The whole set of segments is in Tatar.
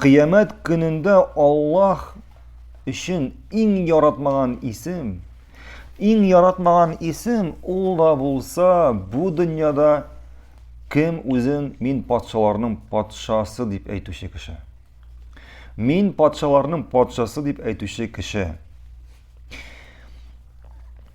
Кыямәт көнендә Аллаһ өчен иң яратмаган исем, иң яратмаган исем ул да булса, бу дөньяда кем үзен мин патшаларның патшасы дип әйтүче кеше. Мин патшаларның патшасы дип әйтүче кеше.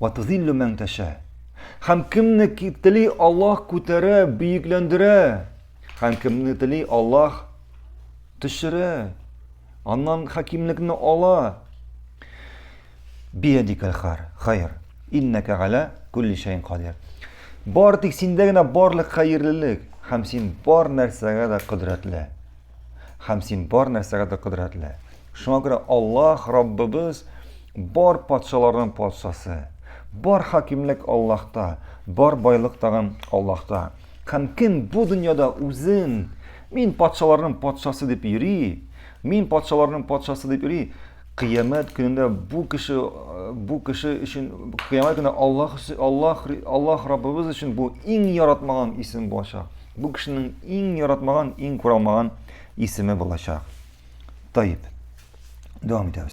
Вә тузиллү мән тәшә. Һәм кемне тели Аллаһ күтәрә, бөекләндерә. Һәм кемне тели Аллаһ төшерә. Аннан хакимлекне ала. Биядикәл хар, хайр. Иннәкә галә күлли шәйн кадир. Бар тик синдә генә барлык хәерлелек һәм син бар нәрсәгә дә кодрәтле. Һәм син бар нәрсәгә дә кодрәтле. Шуңа күрә Аллаһ Раббыбыз бар патшаларның патшасы. Бар хакимлек Аллаһта, бар байлык тагын Аллаһта. Һәм кем бу дөньяда үзен мин патшаларның патшасы дип йөри, мин патшаларның патшасы дип йөри, Кыямәт көнендә бу кеше бу кеше өчен кыямәт көнендә Аллаһ Аллаһ Аллаһ Раббыбыз өчен бу иң яратмаган исем булачак. Бу кешенең иң яратмаган, иң күралмаган исеме булачак. Таип. Дәвам итәбез.